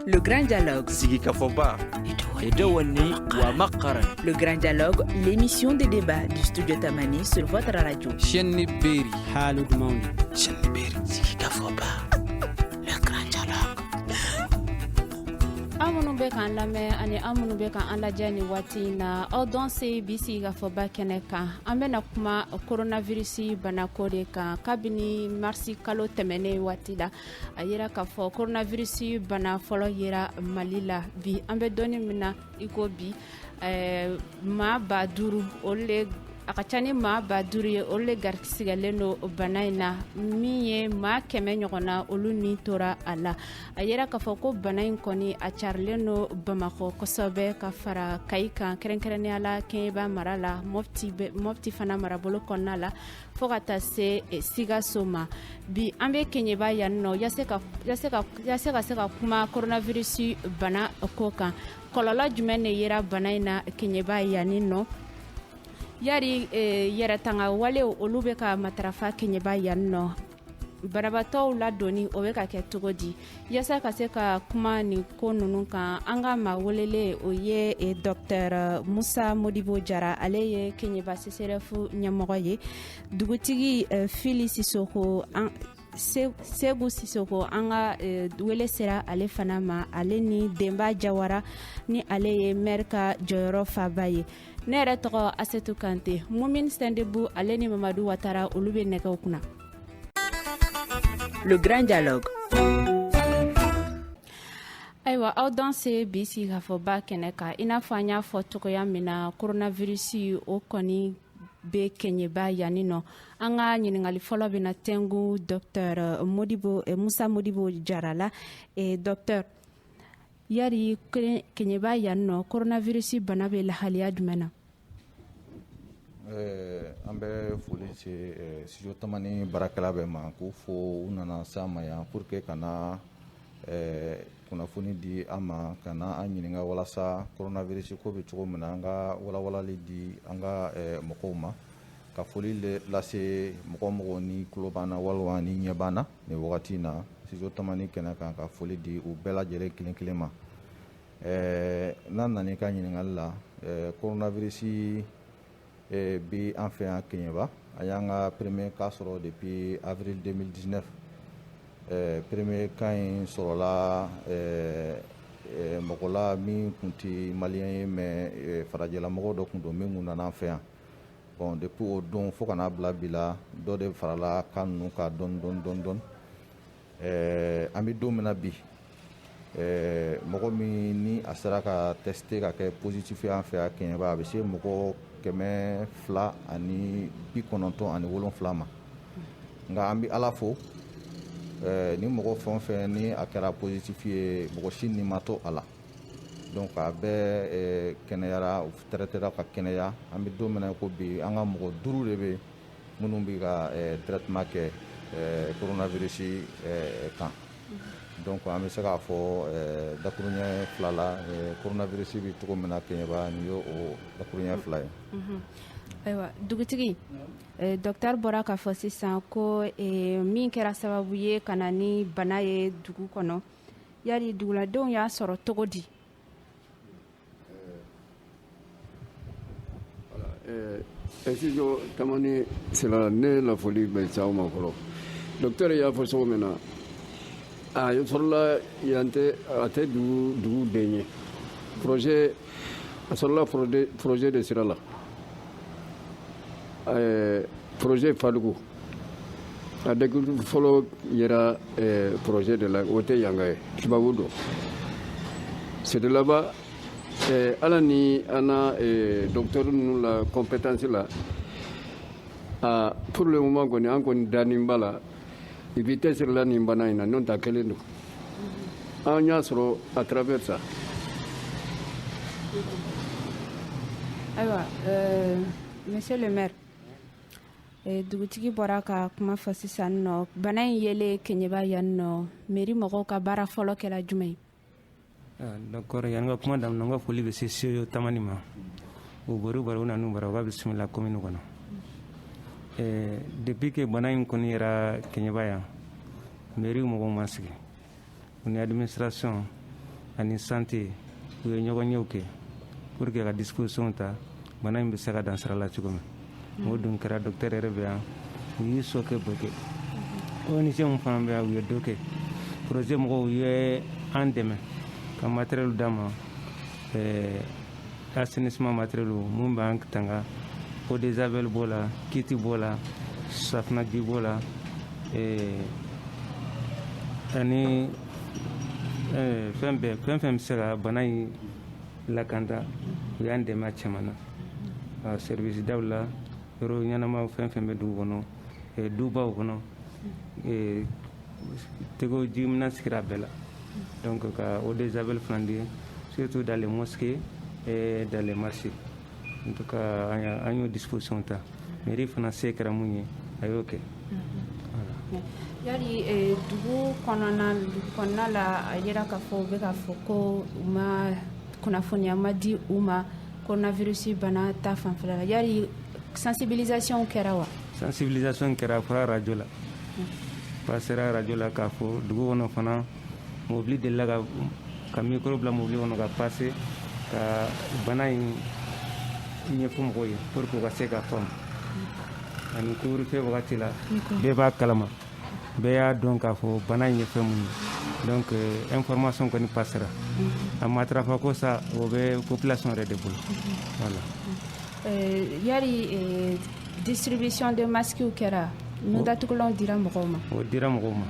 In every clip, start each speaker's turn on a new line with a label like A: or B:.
A: Le Grand Dialogue. Sigi
B: Kafoba. Et de Wani Wamakara. Le Grand
A: Dialogue, l'émission de débat du studio Tamani sur votre radio. Chenni Beri.
C: Halud Mauni.
D: Chenni Beri.
B: Sigi Kafoba. Le Grand
E: Dialogue. aw minnu bɛ k'an lamɛn ani aw minnu bɛ k'an lajɛ nin waati in na aw danse bi sigi ka fɔba kɛnɛ kan an bɛna kuma koronavirisi banako de kan kabini marisi kalo tɛmɛnen waati la a yera k'a fɔ koronavirisi bana fɔlɔ yera mali la bi an bɛ don min na iko bi maa ba duuru olu de a ka ca ni maa ba duuru ye olu de garisigɛlen don bana in na min ye maa kɛmɛ ɲɔgɔn na olu ni tora a la a yera k'a fɔ ko bana in kɔni a carilen don bamakɔ kosɛbɛ ka fara kayi kan kɛrɛnkɛrɛnnenya la kɛɲɛba mara la mɔpti fana marabolo kɔnɔna la fo ka taa se sikaso ma bi an bɛ kɛɲɛba yanni nɔ yasa ka se ka kuma koronavirisi banako kan kɔlɔlɔ jumɛn de yera bana in na kɛɲɛba yanni nɔ yari yɛrɛtanga wale olu bɛ ka matarafa kɛɲɛba yanni nɔ banabaatɔw ladonni o bɛ ka kɛ cogo di yasa ka se ka kuma nin ko ninnu kan an ka maa welelen o ye e, dɔktɛr musa modibo jara ale ye kɛɲɛba seserɛfu ɲɛmɔgɔ ye dugutigi e, fili sisoko an seku sisoko an ka e, wele sera ale fana ma ale ni denba jawara ni ale ye mɛri ka jɔyɔrɔ fabaa ye ne yɛrɛ tɔgɔ asetu kante mumin sindebu ale ni mamadu watara olu bɛ nɛgɛw
A: kunna Le Grand Dialogue
E: ayiwa aw danse bi sigi ka fɔ ba kɛnɛ kan i n'a fɔ an y'a fɔ cogoya min na koronavirisi o kɔni bɛ kɛɲɛba yanni nɔ an ka ɲininkali fɔlɔ bɛ na tɛngu dɔktɛr modibo eh, musa modibo jara la eh, dɔktɛr Yari kɛɲɛba yan nɔ koronavirisi bana bɛ lahalaya jumɛn na
F: ɛɛ an bɛ foli se studio tamani baarakɛla bɛɛ ma k'u fo u nana s'an ma yan pour que ka na kunnafoni di an ma ka na an ɲininka walasa koronavirisi ko bɛ cogo min na an ka walawalali di an ka mɔgɔw ma ka foli lase mɔgɔ o mɔgɔ ni tulo b'an na walima ni ɲɛ b'an na nin wagati in na studio tamani kɛnɛ kan ka foli di u bɛɛ lajɛlen kelen kelen ma ɛɛ n'an nana i ka ɲininkali la ɛɛ koronavirisi ɛɛ bi an fɛ yan kɛɲɛba an y'an ka premier cas sɔrɔ depuis avril 2019 ɛɛ premier cas in sɔrɔla ɛɛ mɔgɔ la min tun tɛ maliyɛn ye mais farajɛlamɔgɔ dɔ tun don min tun nana an fɛ yan Bon depuis o don fo ka n'a bila bi la dɔ de farala cas ninnu kan dɔɔnin dɔɔnin an bɛ don min na bi mɔgɔ min ni a sera ka tester ka kɛ positif ye an fɛ yan kɛɲɛba a bɛ se mɔgɔ kɛmɛ fila ani bi kɔnɔntɔn ani wolonfila ma nka an bɛ ala fo ni mɔgɔ fɛn o fɛn ni a kɛra positif ye mɔgɔ si ni ma to a la Donc a bɛɛ ɛɛ kɛnɛyara u traitera ka kɛnɛya an bɛ don min na i ko bi an ka mɔgɔ 5 de bɛ yen minnu bɛ ka ɛɛ traitement kɛ ɛɛ coronavirus ɛɛ kan donc an bɛ se k'a fɔ ɛɛ dakurunɲɛ fila la ɛɛ coronavirus bɛ cogo min na Keɲeba nin ye o dakurunɲɛ fila ye. Unhun
E: ayiwa dugutigi ɛɛ docteur bɔra k'a fɔ sisan ko ɛɛ min kɛra sababu ye ka na ni bana ye dugu kɔnɔ yari duguladenw y'a sɔrɔ cogo
G: di Studio Tamani sira la ne la foli bɛ s'aw ma fɔlɔ docteur y'a fɔ cogo min na a sɔrɔla yan tɛ a tɛ dugu den ye projet a sɔrɔla projet de sira la projet Fadugu a dɛg fɔlɔ yera eh, projet de la o tɛ yanka ye tubabu don c'est de là-bas eh, ala ni an na eh, docteur ninnu la compétence la a pour le moment kɔni an kɔni danin b'a la i b'i tɛsiri la nin bana in na n'o ta kelen don an y'a sɔrɔ à travers ça
E: ayiwa euh, monsieur le maire Dugutigi bɔra ka kuma fɔ sisan n nɔ bana in yelen kɛɲɛba yan n nɔ mairie mɔgɔw ka baara fɔlɔ kɛra jumɛn ye
D: d'accord yanni n ka kuma damina n ka foli bɛ se Studio Tamani ma u bɔra u bara u nana u bara u b'a bisimila commune kɔnɔ depuis que bana in kɔni yera kɛɲɛba yan mairie mɔgɔw ma sigi u ni administration ani santé u ye ɲɔgɔnyew kɛ pour que ka disposition ta bana in bɛ se ka dan sira la cogo min o dun kɛra docteur yɛrɛ bɛ yan u y'u seko bɛɛ kɛ ONG minnu fana bɛ yan u ye dɔ kɛ projet mɔgɔw u ye an dɛmɛ ka matériel d'an ma ɛɛ assainissement matériel minnu b'an tanga eau de javel b'o la kiti b'o la safinɛji b'o la eh, ani eh, fɛn bɛɛ fɛn fɛn bɛ se ka bana in lakanda u y'an dɛmɛ a caman na service daw la yɔrɔ ɲɛnamaw fɛn fɛn bɛ dugu kɔnɔ eh, dubaw kɔnɔ Tɛgɛko ji minɛn sigira bɛɛ la donc ka eau de javel fana di surtout dans les mosquées et dans les marchés en tout cas an y'o disposition ta mairie fana se kɛra mun ye a y'o kɛ.
E: yali eh, dugu kɔnɔna dugu kɔnɔna la a yira k'a fɔ u bɛ k'a fɔ ko u ma kunnafoniya ma di u ma coronavirus bana ta fanfɛla la yali sensibilisation kɛra wa. sensibilisation kɛra
D: a fɔra arajo la. pasera arajo la k'a fɔ dugu kɔnɔ fana mobili delila ka ka mikoro bila mobili kɔnɔ ka pase ka bana in ɲɛfɔ mɔgɔw ye pour que u ka se ka faamu ani couvre-feu wagati la bɛɛ b'a kalama bɛɛ y'a dɔn k'a fɔ bana in ye fɛn mun ye donc euh, information kɔni pasera mm-hmm. a matarafa ko sa o bɛ population yɛrɛ de bolo mm-hmm. voilà euh, yari
E: euh, distribution de masques kɛra nun datugulanw dira mɔgɔw ma o dira mɔgɔw
D: ma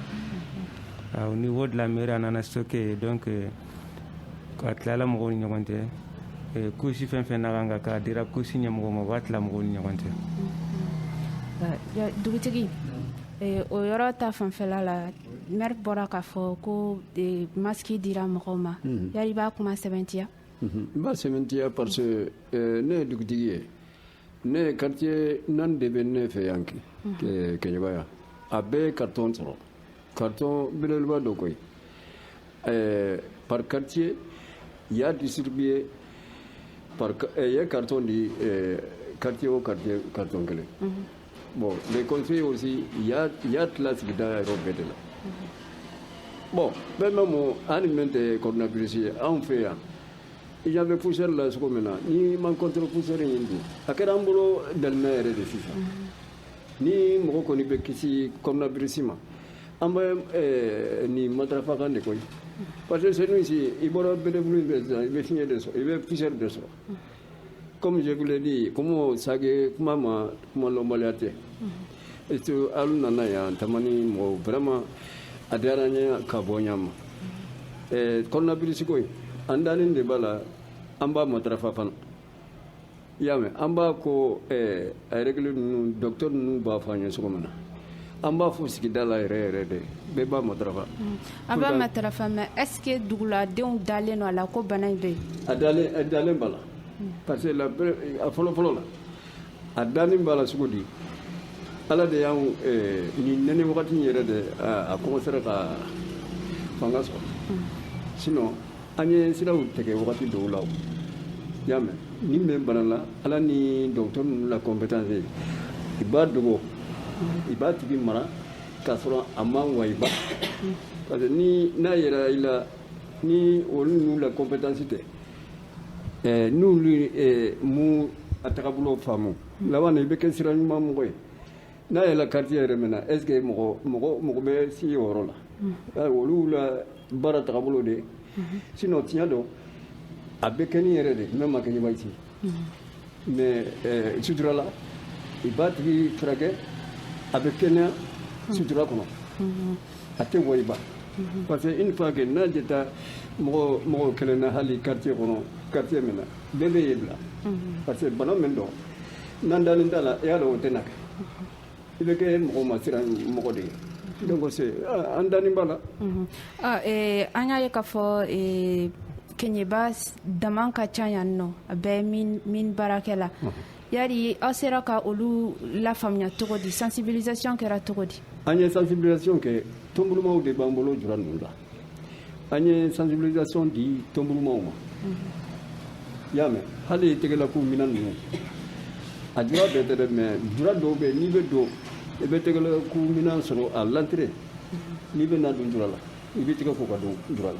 D: au niveau de la mairie a nana stocké donc euh, a tilala mɔgɔw ni ɲɔgɔn cɛ euh, couche fɛn fɛn na kan ka k'a dira couche ɲɛmɔgɔw ma u b'a tila mɔgɔw ni ɲɔgɔn cɛ
E: dugutigi eh, o yɔrɔ ta fanfɛla la mɛri bɔra k'a fɔ ko eh, masiki dira mɔgɔw ma mhm. yari i b'a kuma sɛbɛntiya mhm. n b'a
G: sɛbɛntiya parce que eh, ne ye dugutigi ye ne ye quartier naani de bɛ ne fɛ yan Keɲeba yan a bɛɛ ye karitɔn sɔrɔ karitɔn belebeleba dɔ koyi ɛɛ par quartier u y'a distribué par eh, u ye carton di eh, quartier o quartier carton kelen mm -hmm. bon les conseillers aussi u y'a u y'a tila sigida yɔrɔ bɛɛ de la bon bɛɛ mɛ mun ani min tɛ coronavirus ye anw fɛ yan i ɲa bɛ poussière la cogo min na n'i man contre poussière in dun a kɛra an bolo dalina yɛrɛ de sisan ni mɔgɔ kɔni bɛ kisi coronavirus ma an bɛ nin matarafa kan de koyi parce que chez nous ici i bɔra belebulu in fɛ sisan i bɛ fiɲɛ de sɔrɔ i bɛ poussière de sɔrɔ comme je vous l'ai dit kɔmasagi kuma ma kuma lɔnbaliya tɛ Et que alu nana yan Tamani mɔgɔw vraiment a diyara n ye ka bɔ ɲa ma coronavirus ko in an dalen de b'a la an b'a matarafa fana i y'a mɛn an b'a ko a règle ninnu docteur ninnu b'a fɔ an ye cogo min na an b'a fɔ sigida la yɛrɛ yɛrɛ de bɛɛ b'a matarafa an b'a
E: matarafa mais est-ce que duguladenw dalen don a la ko bana in bɛ yen a dalen
G: b'a la parce que a fɔlɔfɔlɔ la a dannen b'a la cogo di ala de y'an eh, nin nɛnɛ wagati in yɛrɛ de a kɔmɔsera ka fanga sɔrɔ mm. sinon an ye siraw tigɛ wagati dɔw la i y'a mɛn ni bɛ bana la ala ni docteur ninnu la compétence i b'a dogo i b'a tigi mara k'a sɔrɔ a ma wayiba parce que ni n'a yera i la ni olu ninnu la compétence tɛ Ɛɛ n'olu ma a tagabolo faamu, unhun, laban na i bɛ kɛ sira ɲuman mɔgɔ ye, n'a yera quartier yɛrɛ min na est ce que mɔgɔ mɔgɔ bɛ se o yɔrɔ la, unhun, olu la baara tagabolo de ye, unhun, sinon tiɲɛ don a bɛ kɛ ni yɛrɛ de ye mais a kɛɲɛ b'a ye ten mais euh, sutura la i b'a tigi furakɛ a bɛ kɛnɛya sutura kɔnɔ a tɛ wayiba parce que une fois que n'a jeta mɔgɔ mɔgɔ kelen na hali quartier kɔnɔ quartier min na bɛɛ bɛ yen bila parce que bana min don n'an dalen t'a la i y'a dɔn o tɛna kɛ i bɛ kɛ mɔgɔ ma siran mɔgɔ de ye donc c'est ah, an danin b'a la Ah, eh,
E: an y'a ye k'a fɔ eh, Keɲɛba daman ka ca yan nɔ a bɛɛ mine baarakɛla yari aw sera ka olu lafaamuya cogo di sensibilisation kɛra cogo di an ye sensibilisation
G: kɛ tɔnbulumaw de b'an bolo jura ninnu la an ye sensibilisation di tɔnbulumaw ma i y'a mɛn hali tɛgɛlako minɛn ninnu a jura bɛɛ tɛ dɛ mais jura dɔw bɛ n'i bɛ don i bɛ tɛgɛlako minɛn sɔrɔ à l'entrée n'i bɛ na don jura la i bɛ tɛgɛ ko ka don jura la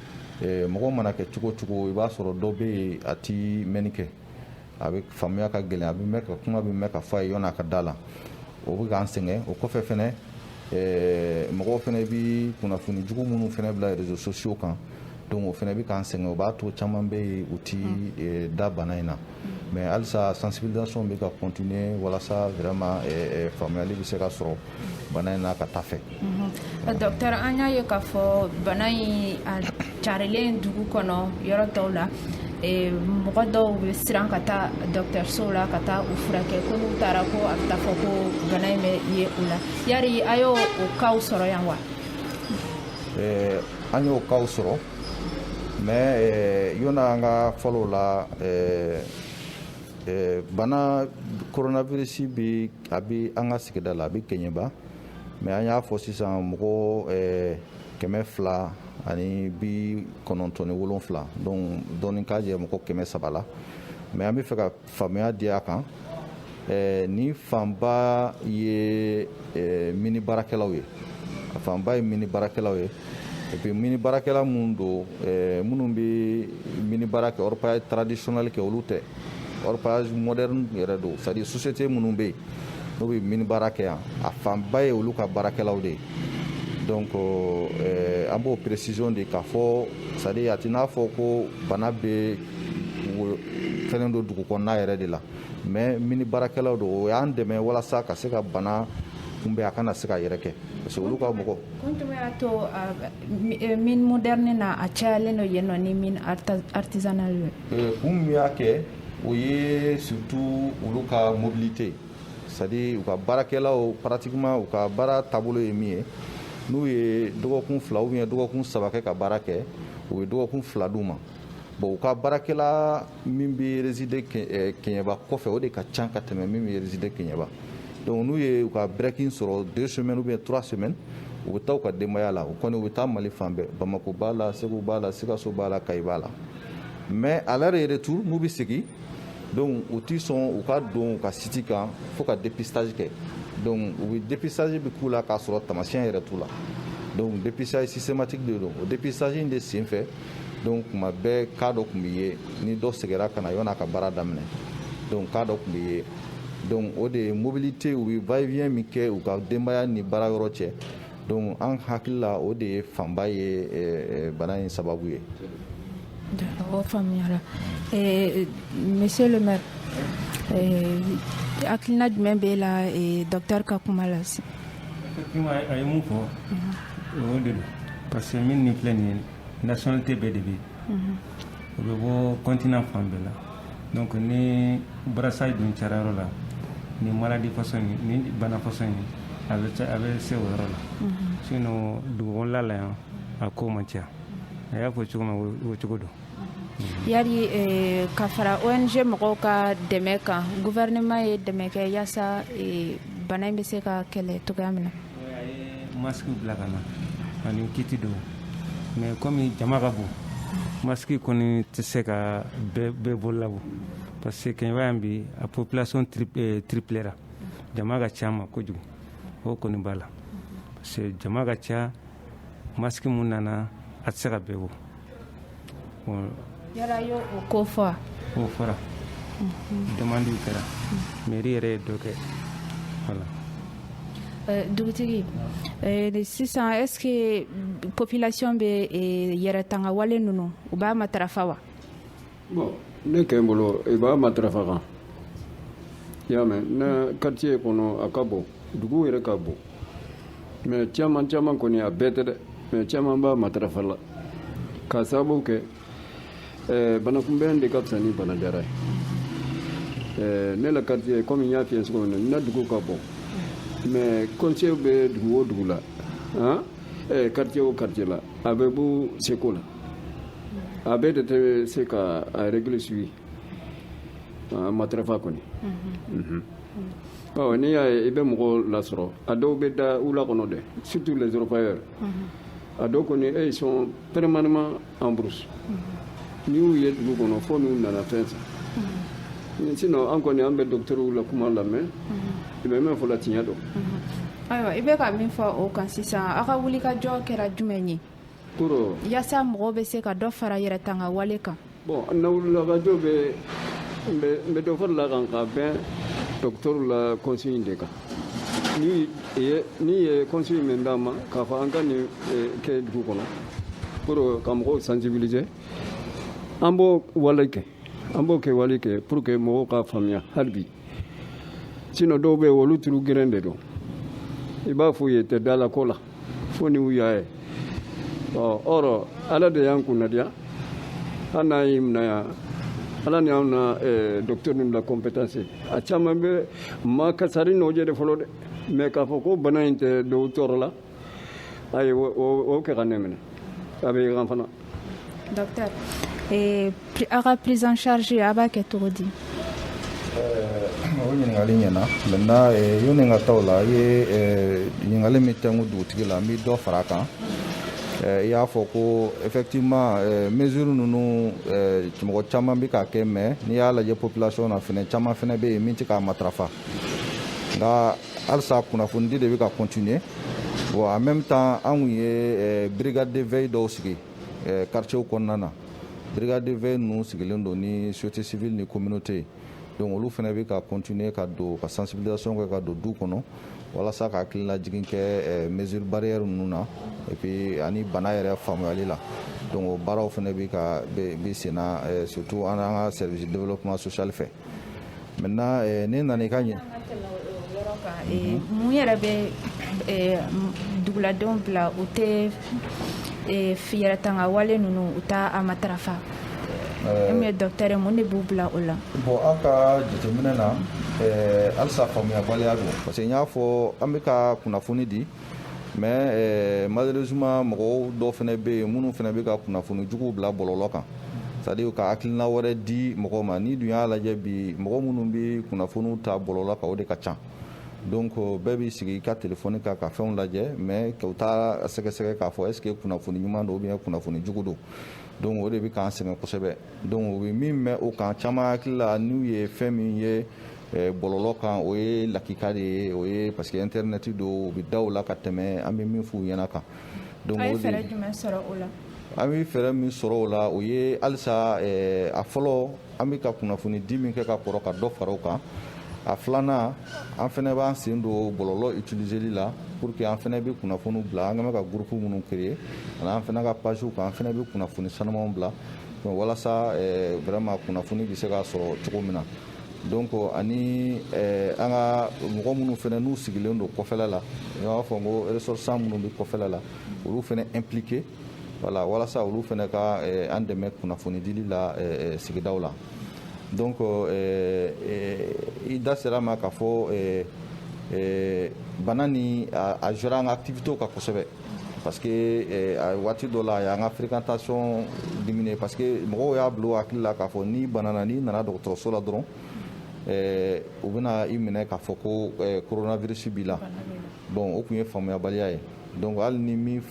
F: Mɔgɔ mana kɛ cogo cogo i b'a sɔrɔ dɔ bɛ yen a tɛ mɛnni kɛ a bɛ faamuya ka gɛlɛn a bɛ mɛn ka kuma bɛ mɛn ka fɔ a ye yanni a ka da la o bɛ k'an sɛgɛn o kɔfɛ fɛnɛ mɔgɔ fɛnɛ bɛ kunnafoni jugu minnu fɛnɛ bila réseaux sociaux kan donc o fɛnɛ bɛ k'an sɛgɛn o b'a to caman bɛ yen u tɛ da bana in na mais halisa sensibilisation bɛ ka continuer walasa vraiment faamuyali bɛ se ka sɔrɔ bana in na ka taa fɛ docteur
E: an y'a ye k'a fɔ bana in carilen dugu kɔnɔ yɔrɔ tɔw la mɔgɔ dɔw bɛ siran ka taa dɔgɔtɔrɔsow la ka taa u furakɛ ko n'u taara ko a bɛ taa fɔ ko bana in bɛ ye u la yari a y'o cas sɔrɔ yan wa
F: an y'o cas sɔrɔ Mais yanni an ka fɔlɔ la bana coronavirus bɛ a bɛ an ka sigida la a bɛ Keɲɛba mais an y'a fɔ sisan mɔgɔ kɛmɛ fila ani bi kɔnɔntɔn ni wolonwula donc dɔɔni k'a jɛ mɔgɔ kɛmɛ saba la mais an bɛ fɛ ka faamuya di a kan ni fanba ye mini baarakɛlaw ye a fanba ye mini baarakɛlaw ye et puis mini baarakɛla minnu don minnu bɛ mini baara kɛ orpaillage traditionnel kɛ olu tɛ orpaillage moderne yɛrɛ don c'est à dire société minnu bɛ yen n'u bɛ mini baara kɛ yan a fanba ye olu ka baarakɛlaw de ye donc an b'o précision di k'a fɔ c'est à dire a tɛ n'a fɔ ko bana bɛ fɛn don dugu kɔnɔna yɛrɛ de la mais mini baarakɛlaw don o y'an dɛmɛ walasa ka se ka bana kunbɛn a kana se ka yɛrɛkɛ parce que olu ka mɔgɔ y'a to
E: eh, mine moderne na a cayalen don yen nɔ ni mine artisanal ye, kun min y'a
F: kɛ o ye surtout olu ka mobilité c'est à dire u ka baarakɛlaw pratiquement u ka baara taabolo ye min ye n'u ye dɔgɔkun fila ou bien dɔgɔkun saba kɛ ka baara kɛ u ye dɔgɔkun fila d'u ma Bon u ka baarakɛla min bɛ résider kɛɲɛba kɔfɛ o de ka ca ka tɛmɛ min bɛ résider kɛɲɛba donc n'u ye u ka break sɔrɔ deux semaines ou bien trois semaines u bɛ taa u ka denbaya la u kɔni u bɛ taa mali fan bɛɛ bamakɔ b'a la segu b'a la sikaso b'a la kayi b'a la mais à leur retour n'u bɛ segin donc u tɛ sɔn u ka don u ka site kan fo ka dépistage kɛ donc u bɛ dépistage bɛ k'u la k'a sɔrɔ tamasiyɛn yɛrɛ t'u la donc dépistage systématique de don o dépistage de senfɛ donc kuma bɛɛ cas dɔ tun bɛ ye ni dɔ seginna ka na yanni a ka baara daminɛ donc cas dɔ tun bɛ ye donc o de ye mobilité u bɛ va et vient min kɛ u ka denbaya ni baara yɔrɔ cɛ donc an hakili la o de ye fanba ye eh, eh, bana in sababu
E: ye. o faamuyara eh, monsieur le maire hakilina jumɛn b'e la docteur ka kuma la. effectivement
D: a ye mun fɔ o de don parce que mine nin filɛ nin ye nationalité bɛɛ de bɛ u bɛ bɔ continent fan bɛɛ la donc ni brassage dun cayara yɔrɔ la ni maladie façon ye ni bana façon ye a bɛ a bɛ se o yɔrɔ la sinon dugu kɔnɔna la yan a ko ma caya a y'a fɔ cogo ma o cogo don
E: yari ka fara ong mɔgɔw ka dɛmɛ kan gouvernement ye dɛmɛ kɛ yaasa bana in bɛ se ka kɛlɛ cogoya min na
D: Masque bila ka na ani kiti dɔw mais comme jama ka bon masque kɔni tɛ se ka bɛɛ bolo labɔ parce que kɛɲɛba yan bi a population triplera jama ka ca ma kojugu o kɔni b'a la parce que jama ka ca masque minnu nana a tɛ se ka bɛɛ bɔ
E: yala y'o ko fɔ wa o
D: fɔra demande kɛra mairie yɛrɛ ye dɔ kɛ voilà
E: eh, dugutigi eh, sisan est ce que population bɛ eh, yɛrɛ tanga wale ninnu u b'a matarafa wa
G: bon ne kɛ n bolo i b'a matarafa kan i y'a mɛn na quartier kɔnɔ a ka bon dugu yɛrɛ ka bon mais caman caman kɔni a bɛɛ tɛ dɛ mais caman b'a matarafa la k'a sababu kɛ eh, banakunbɛn de ka fisa ni banajara ye eh, ne la quartier comme n y'a f'i ye cogo min na n na dugu ka bon mais conseil bɛ dugu o dugu la quartier o quartier la a bɛɛ b'u seko la a bɛɛ de tɛ se ka a règle suivre a matarafa kɔni mhm. ɔ n'i y'a ye i bɛ mɔgɔw lasɔrɔ a dɔw bɛ da wula kɔnɔ dɛ surtout les orpailleurs mhm. a dɔw kɔni eux ils sont permanemment en brousse mhm. n'i y'u ye dugu kɔnɔ fo n'u nana fɛn san sinon an kɔni an bɛ docteurw la kuma lamɛn i bɛ min fɔ la tiɲɛ don ayiwa i
E: bɛ ka min fɔ o kan sisan aw ka wulikajɔ kɛra jumɛn ye
G: yaasa mɔgɔw
E: bɛ se ka dɔ fara yɛrɛ tanga wale kan bon n na
G: wulikajɔ bɛ n bɛ dɔ fara la a kan ka bɛn docteurw la consigne de kan n'i ye n'i ye consigne min d'an ma k'a fɔ an ka nin eh, kɛ dugu kɔnɔ pour ka mɔgɔw sensibiliser an b'o wale kɛ an b'o kɛ wale kɛ pour que mɔgɔw ka faamuya hali bi sinon dɔw bɛ yen olu tulo geren de don i b'a f'u ye u tɛ da la ko la fo ni u y'a ye or ala de y'an kunnadiya hali n'a y'i minɛ yan ala ni anw na eh, docteur ninnu la compétence a caman bɛ ma kasari nɔjɛ de fɔlɔ dɛ mais k'a fɔ ko bana in tɛ dɔw tɔɔrɔ la ayi o kɛ ka ne minɛ a bɛ yan
E: fana docteur eh, aw ka prise en charge aw b'a kɛ cogo di
F: eh, o ɲininkali ɲɛna maintenant eh, yanni n ka taa o la i ye ɲininkali min tɛnku dugutigi la n bɛ dɔ fara a kan i y'a fɔ ko effectivement mesure ninnu mɔgɔ caman bɛ k'a kɛ mais n'i y'a lajɛ population na fɛnɛ caman fɛnɛ bɛ yen min tɛ k'a matarafa nka halisa kunnafonidi de bɛ ka continuer bon en même temps an tun ye brigade de veille dɔw sigi quartiers kɔnɔna na brigade de veille ninnu sigilen don ni société civile ni communauté donc olu fana bɛ ka continuer ka don ka sensibilisation kɛ ka don du kɔnɔ walasa ka hakililajigin kɛ mesure barrière ninnu na et puis ani bana yɛrɛ faamuyali la donc o baaraw fana bɛ ka bɛ senna surtout an ka service de développement social fɛ Maintenant ne nana i ka ɲɛ
E: mun yɛrɛ bɛ duguladenw bila u tɛ yɛrɛ tanga wale ninnu u t'a matarafa mais docteur mun de b'u bila o la bon an
F: ka jateminɛ na halisa faamuyabaliya don parce que n y'a fɔ an bɛ ka kunnafoni di mais eh, malheureusement mɔgɔw dɔw fana bɛ yen minnu fana bɛ ka kunnafoni juguw bila bɔlɔlɔ kan c'est-à-dire ka hakilina wɛrɛ di mɔgɔ ma n'i dun y'a lajɛ bi mɔgɔ minnu bɛ kunnafoniw ta bɔlɔlɔ kan o de ka ca donc euh, bɛɛ b'i sigi i ka telefɔni kan ka fɛnw lajɛ mais u t'a sɛgɛsɛgɛ k'a fɔ est ce que kunnafoni ɲuman don ou bien kunnafoni jugu don donc o de bɛ k'an sɛgɛn kosɛbɛ donc u bɛ min mɛn o kan caman hakili la n'u ye fɛn min ye Bɔlɔlɔ kan o ye lakika de ye o ye parce que internet don u bɛ da o la ka tɛmɛ an bɛ min f'u ɲɛna
E: kan an bɛ fɛɛrɛ
F: min sɔrɔ o la o ye halisa a fɔlɔ an bɛ ka kunnafoni di min kɛ ka kɔrɔ ka dɔ fara o kan a filanan an fana b'an sen don bɔlɔlɔ utiliséli la pour que an fana bɛ kunnafoni bila an ka ka groupe minnu créer ani an fana ka pagew kan an fana bɛ kunnafoni sanumanw bila walasa vraiment kunnafoni bɛ se ka sɔrɔ cogo min na Donc ani an ka mɔgɔ minnu fana n'u sigilen don kɔfɛla la n b'a fɔ ko ressortissants minnu bɛ kɔfɛla la olu fana impliquer voilà walasa olu fana ka an dɛmɛ kunnafoni dili la sigidaw la donc i da sera a ma k'a fɔ bana ni a jouera an ka activitéw kan kosɛbɛ parce que eh, a waati dɔ la a y'an ka fréquentation diminuer parce que mɔgɔw y'a bila u hakili la k'a fɔ n'i banana n'i nana dɔgɔtɔrɔso la dɔrɔn eh, u bɛna i minɛ k'a fɔ ko eh, coronavirus b'i la bon o tun ye faamuyabaliya ye donc hali ni min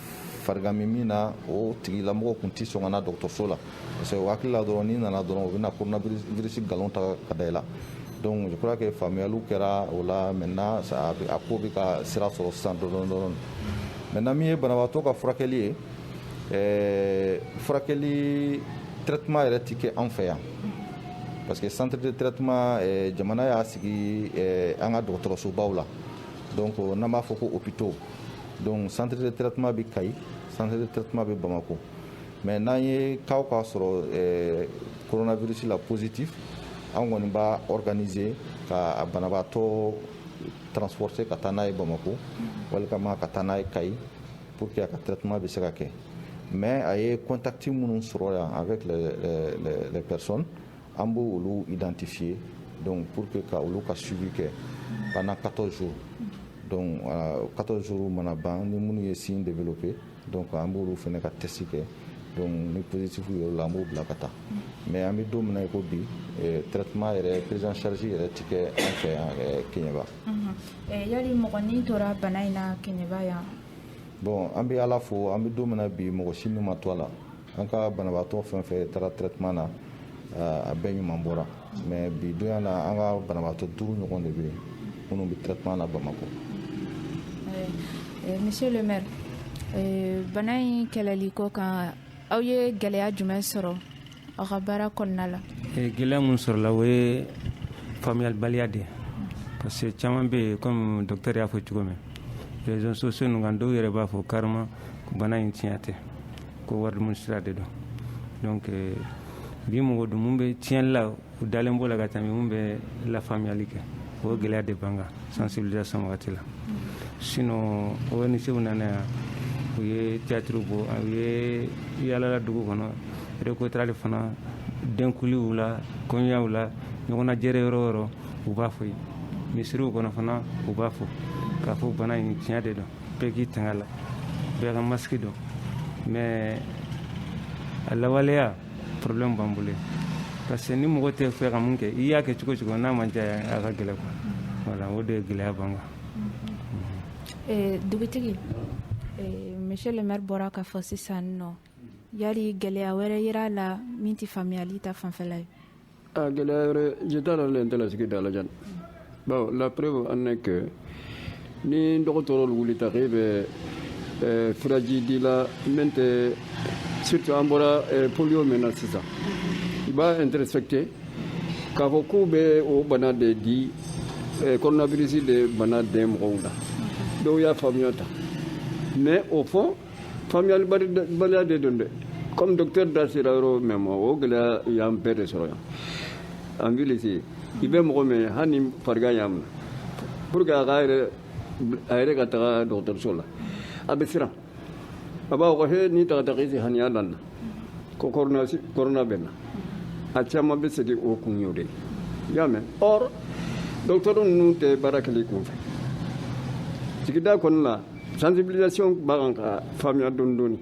F: farigan bɛ min na o tigilamɔgɔ tun tɛ sɔn ka na dɔgɔtɔrɔso la parce que u hakili la dɔrɔn n'i nana dɔrɔn u bɛna coronavirus nkalon ta ka da i la donc je crois que faamuyaliw kɛra o la maintenant a ko bɛ ka sira sɔrɔ sisan dɔɔni dɔɔni maintenant min ye banabaatɔ ka furakɛli ye ɛɛ furakɛli traitement yɛrɛ tɛ kɛ an fɛ yan parce que centre de traitement ɛɛ jamana y'a sigi ɛɛ an ka dɔgɔtɔrɔsobaw la donc n'an b'a fɔ ko hôpitaux donc centre de traitement bɛ Kayi centre de traitement bɛ Bamakɔ. mɛ n'an ye ka k'a sɔrɔ kɔnɔnabirisi la psiti an kɔni b'a k ka banabaatɔ tfte ka taa n'a ye bamakɔ wali ka taa n'a ye ka ye po que a ka taa tuma bɛ se ka kɛ mɛ a ye kɔntati minnu sɔrɔ yan a bɛ pɛresɔn an b' olu dantif ye dɔnku po que ka olu ka subi kɛ banna katɔzo katɔzo mana ban ni minnu ye sin de bɛ pe Donc an b'olu fana ka test kɛ donc ni positif yera a la an b'o bila ka taa mais an bɛ don min na i ko bi traitement yɛrɛ prise en charge yɛrɛ tɛ kɛ an fɛ yan Keɲeba yali
C: mɔgɔ ni tora bana in na Keɲeba yan bon an
F: bɛ ala fo an bɛ don min na bi mɔgɔ si ni ma to a la an ka banabaatɔ fɛn fɛn taara traitement na a bɛɛ ɲuman bɔra mais bi donya na an ka banabaatɔ duuru ɲɔgɔn de bɛ yen minnu bɛ traitement na bamakɔ eh,
C: monsieur le maire eh, bana in kɛlɛli ko kan aw ye gɛlɛya jumɛn sɔrɔ aw ka baara kɔnɔna la eh, gɛlɛya minnu
D: sɔrɔla o ye faamuyalibaliya de ye parce que caman bɛ yen comme docteur y'a fɔ cogo min réseaux sociaux ninnu kan dɔw yɛrɛ b'a fɔ carrément ko bana in tiɲɛ tɛ ko wari dumuni sira de don donc euh, bi mɔgɔ dun mun bɛ tiɲɛli la u dalen b'o la ka tɛmɛ mun bɛ lafaamuyali kɛ o gɛlɛya de b'an kan sensibilisation wagati la sinon ONG-w nana yan u ye théâtre bɔ u ye yaalala dugu kɔnɔ recotrali fana denkuliw la kɔɲɔyaw la ɲɔgɔnna jɛrɛ yɔrɔ o yɔrɔ u b'a fɔ yen misiriw kɔnɔ fana u b'a fɔ k'a fɔ bana in tiɲɛ de don bɛɛ k'i tanga la bɛɛ ka masque don mais a lawaleya problème b'an bolo parce que ni mɔgɔ tɛ fɛ ka mun kɛ i y'a kɛ cogo o cogo n'a ma diya a ka gɛlɛn quoi voilà o de ye gɛlɛya b'an kan eh,
C: dugutigi eh, monsieur le maire bɔra k'a fɔ sisan nɔ Yali gɛlɛya wɛrɛ yera a la min tɛ faamuyali ta fanfɛla ye gɛlɛya wɛrɛ
G: jeta le nte la sigida la jan baw la preuve en est que ni dɔgɔtɔrɔlu wulita k'e bɛ furaji di la n tɛ surtout an bɔra polio min na sisan i b'a interpréter k'a fɔ k'u bɛ o bana de di coronavirus de bana den mɔgɔw la dɔw y'a faamuya tan mais au fond faamuyalibaliya de don dɛ comme docteur da sera yɔrɔ min ma o gɛlɛya y'an bɛɛ de sɔrɔ yan an vilisi i bɛ mɔgɔ min hali ni farigan y'a minɛ pour que a ka a yɛrɛ ka taga dɔgɔtɔrɔso la a bɛ siran a b'a fɔ ko he ni n tagata i si faniya da n na ko corona bɛ n na a caman bɛ segin o kun y'o de ye i y'a mɛn or dɔgɔtɔrɔ ninnu tɛ baara kɛ la i kun fɛ sigida kɔnɔna la sensibilisation b'a kan ka faamuya dɔɔni dɔɔni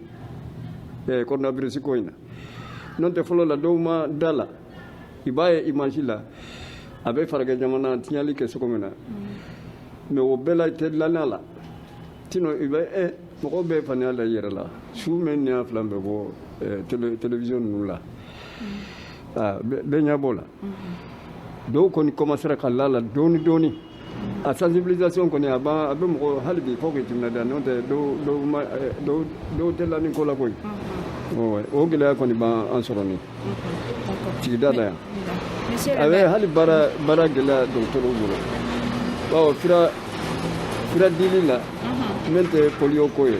G: eh, coronavirus ko in na n'o tɛ fɔlɔ la dɔw ma da a la i b'a ye image la a bɛ farajɛ jamana tiɲɛli kɛ cogo min na mais o bɛɛ la tɛ lanna la tino i bɛ eh, mɔgɔw bɛ faniya la i yɛrɛ la su mɛ ni y'a fila bɛ bɔ eh, télévision ninnu la ah, bɛɛ ɲɛ b'o la mm-hmm. dɔw kɔni commencera ka la a la dɔɔni dɔɔni A sensibilisation kɔni a a bɛ mɔgɔ hali bi fo k'i timinandiya n'o tɛ dɔw tɛ la nin ko la koyi o gɛlɛya kɔni b'an sɔrɔ nin sigida la yan a bɛ hali baara gɛlɛya dɔgɔtɔrɔw bolo bawo fura dili la min tɛ polio ko ye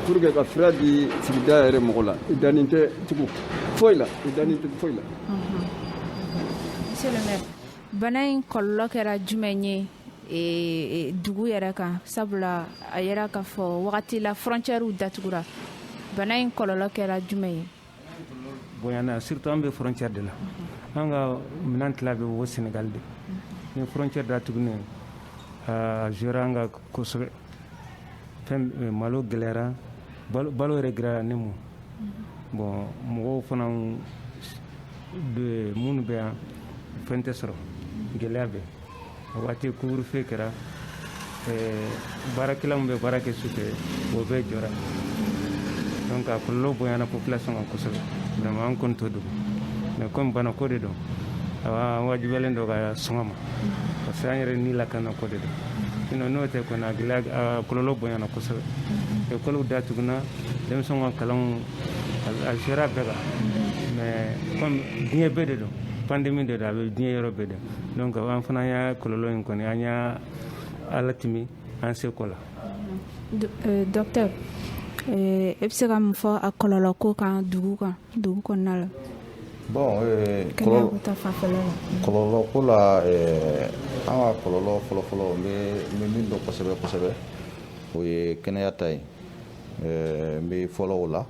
G: pour que ka fura di sigida yɛrɛ mɔgɔ la i danin tɛ tugun foyi la i danin tɛ foyi la
C: bana in kɔlɔlɔ kɛra jumɛn ye e, e, dugu yɛrɛ kan sabula a yɛrɛ k'a fɔ wagati la frontièrew datugura bana in kɔlɔlɔ kɛra jumɛn ye
D: bonyana surtout an bɛ frontière de la an ka minan tila bɛ bɔ Sénégal de ni frontière datugunen a jouera an kan kosɛbɛ fɛn eh, malo gɛlɛyara balo yɛrɛ gɛlɛyara ni mun bon mɔgɔw fana minnu bɛ yan fɛn tɛ sɔrɔ gɛlɛya bɛ a waati couvre-feu kɛra eh, baarakɛla min bɛ baara kɛ su fɛ o bɛɛ jɔra donc a kɔlɔlɔ bonyana population kan kosɛbɛ vraiment an kɔni t'o dogo mais comme banako de don awa an wajibiyalen don ka sɔn a ma parce que an yɛrɛ ni lakana ko de don sinon n'o tɛ kɔni a gɛlɛya kɔlɔlɔ bonyana kosɛbɛ ekɔliw datugunna denmisɛnw ka kalanw a sera bɛɛ kan mais comme diɲɛ bɛɛ de don pandémie de don a bɛ diɲɛ yɔrɔ bɛɛ de donc an fana y'a kɔlɔlɔ in kɔni an y'a latɛmɛ an seko la
C: docteur e bɛ se ka mun fɔ a kɔlɔlɔ ko kan dugu kan dugu kɔnɔna la bon
F: eh, kɔlɔlɔ ko la eh, an ka kɔlɔlɔ fɔlɔfɔlɔ n bɛ min dɔn kosɛbɛ kosɛbɛ o ye kɛnɛya ta ye eh, n bɛ fɔlɔ o la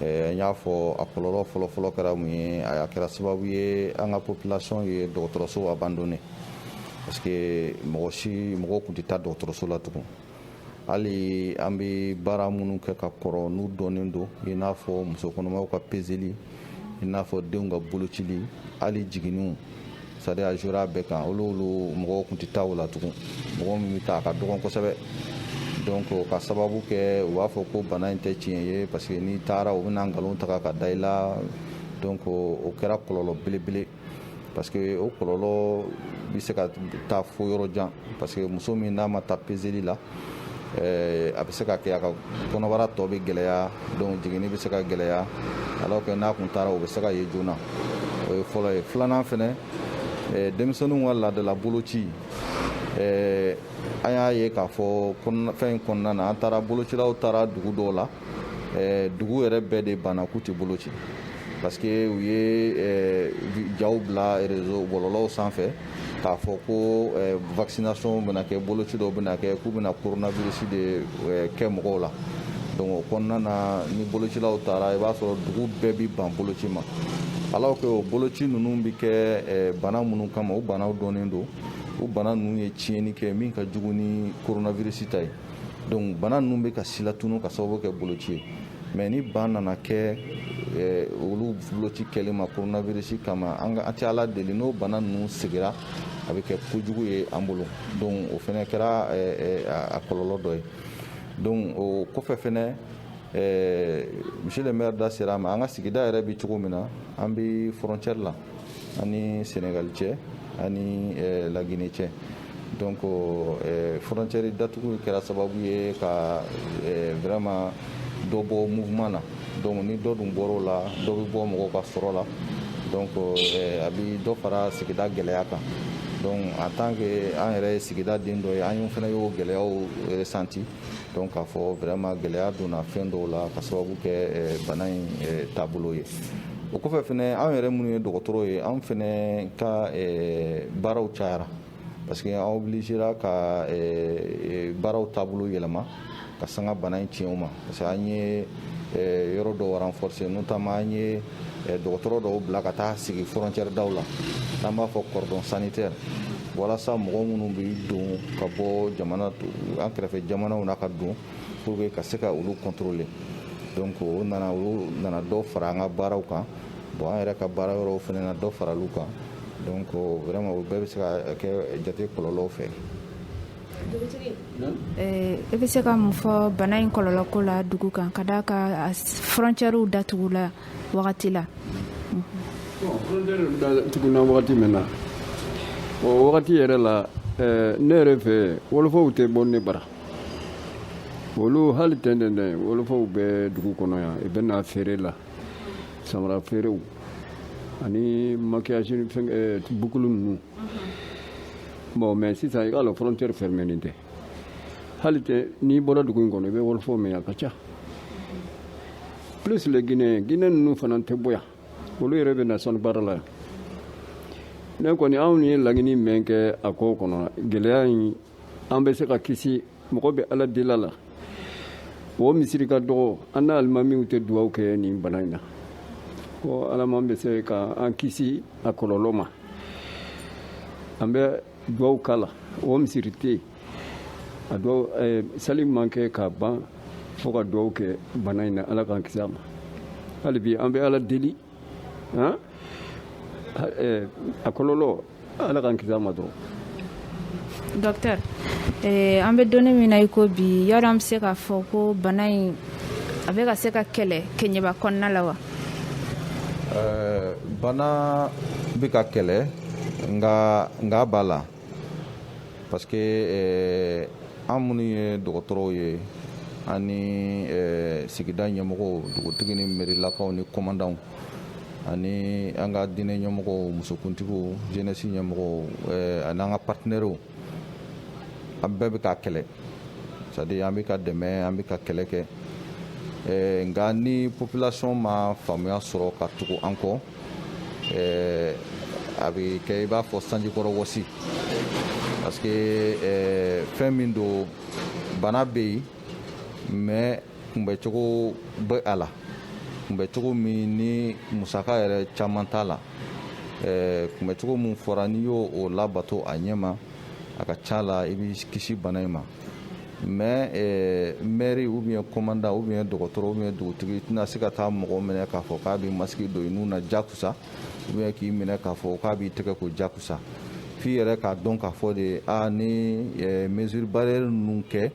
F: n y'a fɔ a kɔlɔlɔ fɔlɔfɔlɔ kɛra mun ye a kɛra sababu ye an ka population ye dɔgɔtɔrɔso abandonné parce que mɔgɔ si mɔgɔw tun tɛ taa dɔgɔtɔrɔso la tugun hali an bɛ baara minnu kɛ ka kɔrɔ n'u dɔnnen don i n'a fɔ musokɔnɔmaw ka pezeli i n'a fɔ denw ka bolocili hali jiginniw c'est-à-dire a jouera bɛɛ kan olu olu mɔgɔw tun tɛ taa o la tugun mɔgɔ min bɛ taa a ka dɔgɔn kosɛbɛ donc ka sababu kɛ u b'a fɔ ko bana in tɛ tiɲɛ ye parce que n'i taara u bɛna nkalon ta ka da i la donc o kɛra kɔlɔlɔ belebele parce que o kɔlɔlɔ bɛ se ka taa fo yɔrɔ jan parce que muso min n'a ma taa pezeli la eh, a bɛ se ka kɛ a ka kɔnɔbara tɔ bɛ gɛlɛya donc jiginni bɛ se ka gɛlɛya alors que n'a kun taara o bɛ se ka ye joona o ye fɔlɔ ye filanan fɛnɛ eh, denmisɛnninw ka laadala boloci eh, an y'a ye k'a fɔ fɛn in kɔnɔna na an taara bolocilaw taara dugu dɔw la dugu yɛrɛ bɛɛ de banna k'u tɛ boloci parce que u ye eh, jaw bila réseau bɔlɔlɔw sanfɛ k'a fɔ ko eh, vaccination bɛna kɛ boloci dɔw bɛna kɛ k'u bɛna coronavirus de eh, kɛ mɔgɔw la donc o kɔnɔna na ni bolocilaw taara i b'a sɔrɔ dugu bɛɛ bi ban boloci ma alors que o boloci ninnu bɛ kɛ bana minnu kama o banaw dɔnnen don o bana ninnu ye tiɲɛni kɛ min ka jugu ni coronavirus ta ye Donc bana ninnu bɛ ka silatunu ka sababu kɛ boloci ye mais ni ban nana kɛ olu boloci kɛli ma coronavirus kama an tɛ ala deli n'o bana ninnu segira a bɛ kɛ kojugu ye an bolo donc o fɛnɛ kɛra a kɔlɔlɔ dɔ ye donc o kɔfɛ fɛnɛ monsieur le maire da sera a ma an ka sigida yɛrɛ bɛ cogo min na an bɛ frontière la ani senegali cɛ ani eh, lagine cɛ donc eh, frontière datugu kɛra sababu ye ka eh, vraiment dɔ bɔ mouvement na donc ni dɔ dun bɔr'o la dɔ bɛ bɔ mɔgɔw ka sɔrɔ la donc a bɛ dɔ fara sigida gɛlɛya kan donc en tant que an yɛrɛ ye sigida den dɔ ye an y'o fana y'o gɛlɛyaw ressenti donc k'a fɔ vraiment gɛlɛya donna fɛn dɔw la ka sababu kɛ eh, bana in eh, taabolo ye o kɔfɛ fɛnɛ anw yɛrɛ minnu ye dɔgɔtɔrɔ ye anw fɛnɛ ka eh, baaraw cayara parce que an obligera ka baaraw taabolo yɛlɛma ka sanga bana in tiɲɛw ma parce que an ye yɔrɔ dɔw renforcer notamment an ye dɔgɔtɔrɔ dɔw bila ka taa sigi frontière daw la n'an b'a fɔ cordon sanitaire walasa mɔgɔ minnu bɛ don ka bɔ an kɛrɛfɛ jamanaw na ka don pour que ka se ka olu contrôler donc o nana olu nana dɔ fara an ka baaraw kan bon an yɛrɛ ka baara yɔrɔw fana na dɔ fara olu kan donc vraiment o bɛɛ bɛ se ka kɛ jate kɔlɔlɔw fɛ
C: Eh, e bɛ se ka mun fɔ bana in kɔlɔlɔ ko la dugu kan ka d'a kan frontièrew datugu la wagati la
G: frontière datuguna wagati min na o wagati yɛrɛ la eh, ne yɛrɛ fɛ wolofaw tɛ bɔ ne bara olu hali tɛntɛn dɛ wolofaw bɛ dugu kɔnɔ yan i bɛ na feere la samara feerew ani maquillage eh, bukulu ninnu bon mais sisan i k'a lɔn frontière fermenen tɛ hali tɛ n'i bɔra dugu in kɔnɔ i bɛ wɔlɔfɔ mɛn a ka ca plus le guinéen guinéen ninnu fana tɛ bɔ yan olu yɛrɛ bɛ na sanu baara la yan ne kɔni anw ye laɲini min kɛ a ko kɔnɔ gɛlɛya in an bɛ se ka kisi mɔgɔ bɛ ala deli la o misiri ka dɔgɔ an na alimamiw tɛ duwaw kɛ nin bana in na ko alaman bɛ se ka an kisi a kɔlɔlɔ ma an bɛ duwaw k'a la o misiri tɛ yen a duwa eh, sali man kɛ ka ban fo ka duwaw kɛ bana in na ala k'an kisi a ma hali bi an bɛ ala deli han eh, a kɔlɔlɔ ala k'an kisi a
C: ma
G: dɔrɔn
C: docteur eh, an bɛ donni min na i ko bi yala an bɛ se k'a fɔ ko bana in a bɛ ka se ka kɛlɛ kɛɲɛba kɔnɔna la wa eh,
F: bana bɛ ka kɛlɛ nka nka b'a la parce que eh, an minnu ye dɔgɔtɔrɔw ye ani sigida ɲɛmɔgɔw dugutigi ni mɛrilakaw ni kɔmandanw ani an ka diinɛ ɲɛmɔgɔw musokuntigiw jeunesse ɲɛmɔgɔw eh, ani an ka partenɛriw an bɛɛ bɛ ka kɛlɛ c'est-à-dire an bɛ ka dɛmɛ an bɛ ka kɛlɛ kɛ eh, nka ni population ma faamuya sɔrɔ ka tugu an kɔ eh, a bɛ kɛ i b'a fɔ sanjikɔrɔ wɔsi parce que fɛn min don bana bɛ yen mais kunbɛcogo bɛ a la kunbɛcogo min ni musaka yɛrɛ caman t'a la kunbɛcogo min fɔra n'i y'o labato a ɲɛ ma a ka ca la i bɛ kisi bana in ma mais eh, mɛri ou bien kɔmandan ou bien dɔgɔtɔrɔ ou bien dugutigi i tɛna se ka taa mɔgɔ minɛ k'a fɔ k'a bɛ masque don i nun na jakusa ou bien k'i minɛ k'a fɔ k'a b'i tɛgɛ ko jakusa f'i yɛrɛ k'a dɔn k'a fɔ de a ni eh, mesure barrière ninnu kɛ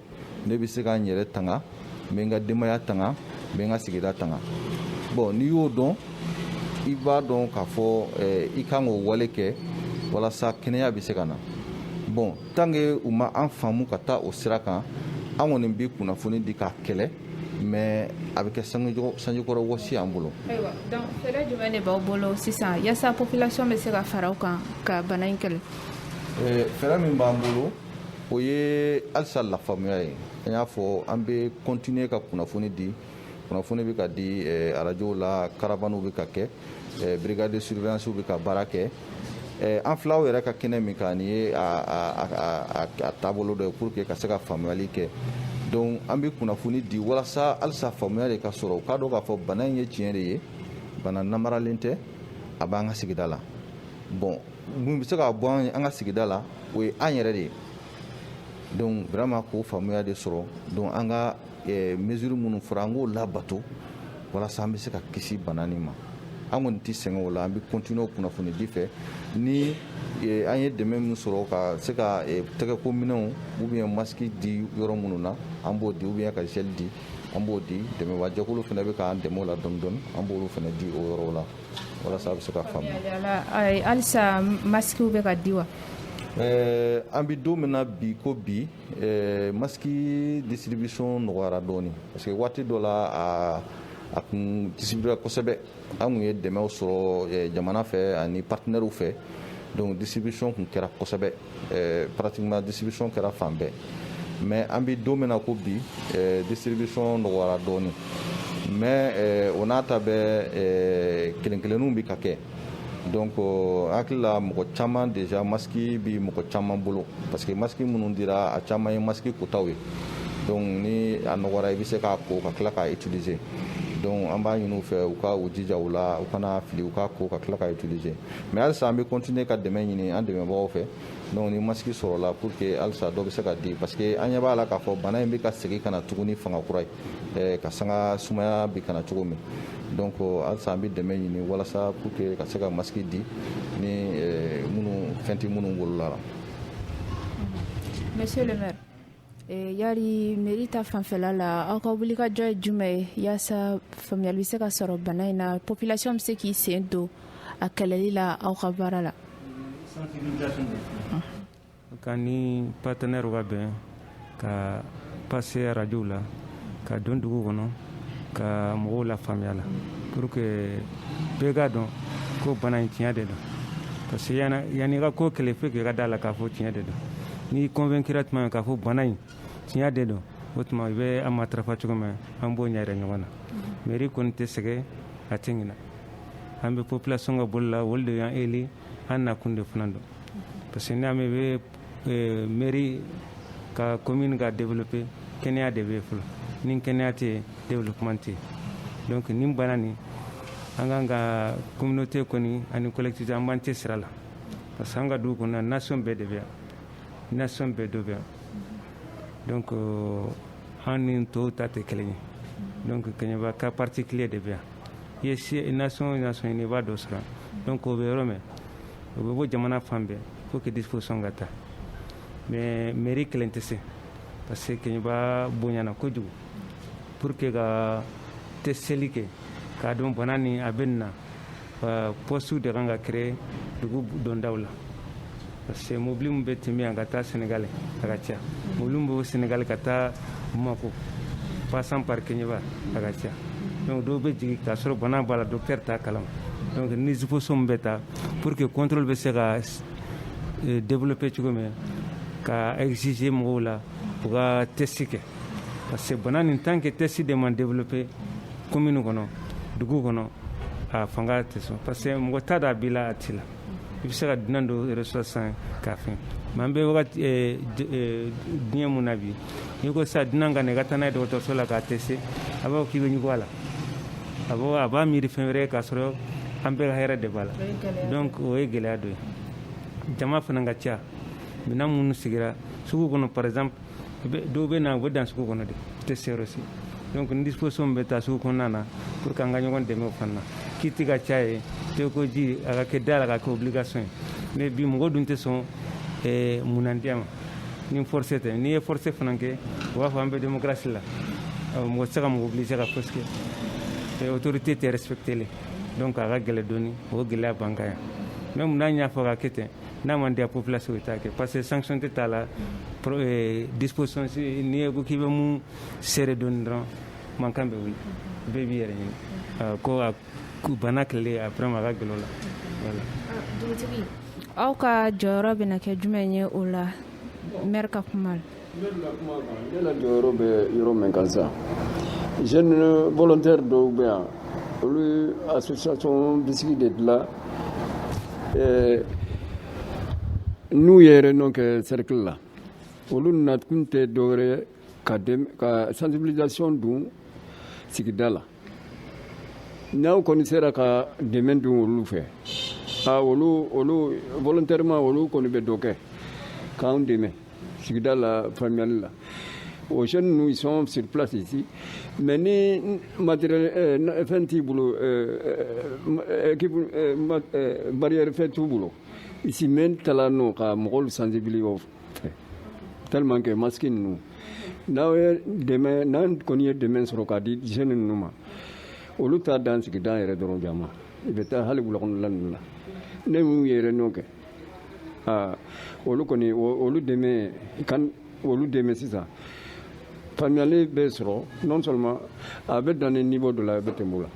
F: ne bɛ se ka n yɛrɛ tanga n bɛ n ka denbaya tanga n bɛ n ka sigida tanga bon n'i y'o dɔn i b'a dɔn k'a fɔ eh, i ka kan k'o wale kɛ walasa kɛnɛya bɛ se ka na bon tant que u ma an faamu ka taa o sira kan an kɔni bɛ kunnafoni di k'a kɛlɛ mais a bɛ kɛ sanjikɔrɔ wɔsi y'an bolo ayiwa donc fɛɛrɛ
C: jumɛn de b'aw bolo sisan yaasa population bɛ se ka fara aw kan ka bana in kɛlɛ eh, fɛɛrɛ
F: min b'an bolo o ye halisa lafaamuya ye an y'a fɔ an bɛ continuer ka kunnafoni di kunnafoni bɛ ka di eh, arajow la caravanew bɛ ka kɛ eh, brigade de surveillance bɛ ka baara kɛ eh, an fil'aw yɛrɛ ka kɛnɛ min kan nin ye a taabolo dɔ ye pour que ka se ka faamuyali kɛ donc an bɛ kunnafoni di walasa halisa faamuya de ka sɔrɔ u k'a dɔn k'a fɔ bana in ye tiɲɛ de ye bana namaralen tɛ a b'an ka sigida la bon mun bɛ se ka bɔ an ye an ka sigida la o ye an yɛrɛ de ye donc vraiment k'o faamuya de sɔrɔ donc an ka eh, mesure minnu fɔra an k'o labato walasa an bɛ se ka kisi bana nin ma an kɔni tɛ sɛgɛn o la an bɛ continuer o kunnafonidi fɛ ni eh, an ye dɛmɛ min sɔrɔ ka se ka eh, tɛgɛko minɛnw ou bien masque di yɔrɔ minnu na an b'o di ou bien ka gel di an b'o di dɛmɛbaajɛkulu fana bɛ k'an dɛmɛ o la dɔɔni dɔɔni an b'olu fana di o yɔrɔw la Walasa a bɛ se ka faamuya
C: halisa masquew bɛ ka di
F: wa an bɛ don min na bi ko bi masque distribution nɔgɔyara dɔɔnin parce que waati dɔ la a kun distribuera kosɛbɛ an kun ye dɛmɛw sɔrɔ jamana fɛ ani partenairew fɛ donc distribution kun kɛra kosɛbɛ Ɛɛ pratiquement distribution kɛra fan bɛɛ mais an bɛ don min na ko bi ɛɛ distribution nɔgɔyara dɔɔni mais ɛɛ o n'a ta bɛɛ ɛɛ kelen kelenninw bɛ ka kɛ donc euh, hakili la mɔgɔ caman déjà masque bi mɔgɔ caman bolo parce que masque minnu dira a caman ye masque kotaw ye donc ni a nɔgɔra i bɛ se k'a ko ka tila k'a utiliser donc an b'a ɲini u fɛ u ka u jija u la u kan'a fili u k'a ko ka tila k'a utiliser mais halisa an bɛ continuer ka dɛmɛ ɲini an dɛmɛbagaw fɛ donc ni masque sɔrɔla pour que halisa dɔ bɛ se ka di parce que an ɲɛ b'a la k'a fɔ bana in bɛ ka segin ka na tuguni fanga kura ye ka sanga sumaya bɛ ka na cogo min donc halisa an bɛ dɛmɛ ɲini walasa pour que ka se ka masque di ni minnu fɛn tɛ minnu bolo olu la. Monsieur
C: le maire. Yari mairie ta fanfɛla la aw ka wulikajɔ ye jumɛn ye yaasa faamuyali bɛ se ka sɔrɔ bana in na population bɛ se k'i sen don a kɛlɛli la aw ka baara
D: la k'an ni partenairew ka bɛn ka passer arajow la ka don dugu kɔnɔ ka mɔgɔw lafaamuya la pour que bɛɛ k'a dɔn ko bana in tiɲɛ de don parce que yanni i ka ko kɛlɛ fo k'i ka d'a la k'a fɔ tiɲɛ de don n'i convaincra tuma min k'a fɔ bana in tiɲɛ de don o tuma i bɛ a matarafa cogo min an b'o ɲɛyira ɲɔgɔn na mairie kɔni tɛ sɛgɛn a tɛ ɲinɛ an bɛ population ka bolo la olu de y'an élu an nakun de fana don parce que n'i y'a mɛn i bɛ Euh, mairie ka commune ka développer kɛnɛya de bɛ fɔlɔ ni kɛnɛya tɛ développement tɛ donc nin bana nin en tant que communauté kɔni ani collectivité an b'an cɛsiri a la parce que an ka dugu kɔnɔ nation bɛɛ de bɛ yan nation bɛɛ dɔ bɛ yan donc euh, an ni tɔw ta tɛ kelen ye donc Kɛɲɛba cas particulier de bɛ yan i ye si nation nation ɲini i b'a dɔ sɔrɔ donc o bɛ yɔrɔ min o bɛ bɔ jamana fan bɛɛ Faut que disposition ka ta mais mairie kelen tɛ se parce que Kɛɲɛba bonyana kojugu pour que ka testeli kɛ k'a dɔn bana ni a bɛ nin na poste de kan ka créer dugu dondaw la parce que mobili min bɛ tɛmɛ yan ka taa Sénégal a ka ca mobili min bɛ Sénégal ka taa Bamako passant par Kɛɲɛba a ka ca dɔw bɛ jigin k'a sɔrɔ bana b'a la docteur t'a kalama donc ni disposition bɛ ta pour que contrôle bɛ se ka eh, développer cogo min ka exiger mɔgɔw la u ka test kɛ parce que bana nin tant que test de man développer commune kɔnɔ dugu kɔnɔ a fanga tɛ sɔn parce que mɔgɔ t'a dɔn a b'i la a t'i la i bɛ se ka dunan dɔ reçoit sans k'a fɛn mais an bɛ wagati eh, d- eh, diɲɛ mun na bi n'i ko sisan dunan ka na i ka taa n'a ye dɔgɔtɔrɔso la k'a tester a b'a fɔ k'i bɛ ɲugu a la a b'a a b'a miiri fɛn wɛrɛ k'a sɔrɔ an bɛɛ ka hɛrɛ de b'a la donc o ye gɛlɛya dɔ ye jama fana ka ca minɛn minnu sigira sugu kɔnɔ par exemple dɔw bɛ na u bɛ dan sugu kɔnɔ de u tɛ se yɔrɔ si donc ni disposition bɛ ta sugu kɔnɔna na pour que an ka ɲɔgɔn dɛmɛ o fana na kit ka caya tɛgɛkoji a ka kɛ da la ka kɛ obligation ye mais bi mɔgɔ dun tɛ sɔn mun man diya ma ni forcé tɛ n'i ye forcé fana kɛ u b'a fɔ an bɛ démocratie la mɔgɔ tɛ se ka mɔgɔ obliger ka force kɛ autorité tɛ respecter le donc a ka gɛlɛ dɔɔni o gɛlɛya b'an kan yan même n'a y'a fɔ ka kɛ ten n'a man diya population ye t'a kɛ parce que sanction tɛ t'a la disposition n'i ye ko k'i bɛ mun serrer dɔɔni dɔrɔn mankan bɛ wuli bɛɛ b'i yɛrɛ ɲini ko a Ko bana kɛlɛ a fana ma ka gɛlɛn la
C: aw ka jɔyɔrɔ bɛ kɛ jumɛn ye o la n ka kuma
G: jɔyɔrɔ bɛ yɔrɔ min ka sa ze bɔtɛ dɔw bɛ yan olu a bisimila de dilan n'u yɛrɛ nɔ kɛ serikali la olu nakun tɛ dɔw ka sanbila dun sigida la n'aw kɔni sera ka dɛmɛ don olu fɛ a olu olu volontairement olu kɔni bɛ dɔ kɛ k'anw dɛmɛ sigida la faamuyali la o jeunes ninnu ils sont sur place ici mais ni matériel euh, fɛn t'i bolo euh, euh, équipe barrière fɛn t'u bolo i si mɛn ta la no ka mɔgɔw sensibiliser tellement que masque ninnu n'aw ye dɛmɛ n'an kɔni ye dɛmɛ sɔrɔ k'a di jeunes ninnu ma olu t'a dan sigida yɛrɛ dɔrɔn jama i bɛ taa hali wulakɔnɔla ninnu la ne n'u ye réunion kɛ aa olu kɔni olu dɛmɛ kan olu dɛmɛ sisan faamuyali bɛ sɔrɔ non seulement a bɛ dan nin niveau de la a bɛ tɛmɛ o la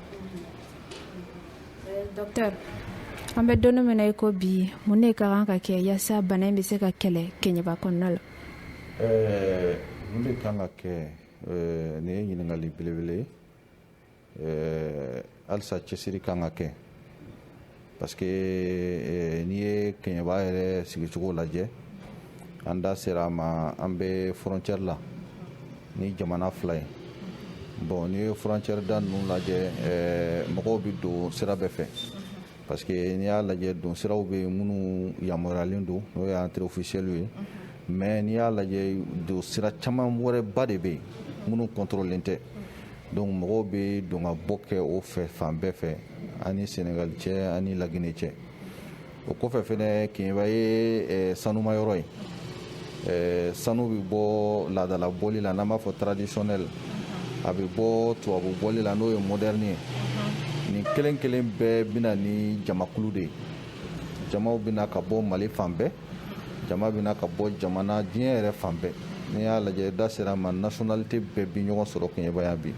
C: an bɛ don min na i ko bi mun de ka kan ka kɛ yaasa bana in bɛ se ka kɛlɛ kɛɲɛba kɔnɔna la eh,
F: mun de kan ka kɛ eh, nin ye ɲininkali belebele ye eh, halisa cɛsiri kan ka kɛ parce que n'i ye kɛɲɛba yɛrɛ sigicogo lajɛ an da sera a ma an bɛ frontière la ni jamana fila ye bon n'i ye frontière da ninnu lajɛ mɔgɔw bɛ don sira bɛɛ fɛ parce que n'i y'a lajɛ don siraw bɛ yen minnu yamaruyayalen don n'o ye entrée officielle ye mais n'i y'a lajɛ don sira caman wɛrɛba de bɛ yen minnu kɔntɔrɔlen tɛ donc mɔgɔw bɛ don ka bɔ kɛ o fɛ fan bɛɛ fɛ ani sɛnɛgali cɛ ani laginɛ cɛ o kɔfɛ fɛnɛ keɲɛba ye sanuma yɔrɔ ye sanu bɛ bɔ laadala bɔli la n'an b'a fɔ traditionnel a bɛ bɔ tubabu bɔli la n'o ye moderne ye nin kelen kelen bɛɛ bɛ na ni jamakulu de ye jamaw bɛ na ka bɔ mali fan bɛɛ jama bɛ na ka bɔ jamana diɲɛ yɛrɛ fan bɛɛ n'i y'a lajɛ da sera ma nationalité bɛɛ bi ɲɔgɔn sɔrɔ keɲɛba yan bi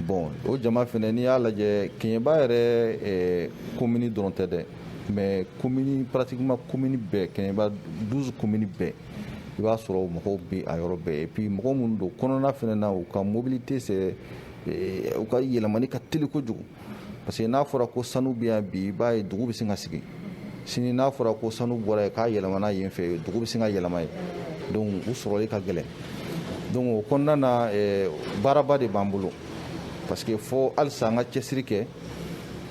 F: bon o jama fɛnɛ n'i y'a lajɛ keɲɛba yɛrɛ komini dɔrɔn tɛ dɛ mais komini pratiquement komini bɛɛ keɲɛba douze komini bɛɛ i b'a sɔrɔ mɔgɔw bɛ a yɔrɔ bɛɛ et puis mɔgɔ minnu don kɔnɔna fɛnɛ na u ka mobilité c'est eh, u ka yɛlɛmani ka teli kojugu parce que n'a fɔra ko sanu bɛ yan bi i b'a ye dugu bɛ sin ka sigi sini n'a fɔra ko sanu bɔra yen k'a yɛlɛmana yen fɛ dugu bɛ sin ka yɛlɛma yen donc u sɔrɔli ka gɛlɛn donc o kɔnɔna na eh, baaraba de b'an bolo parce que fo halisa an ka cɛsiri kɛ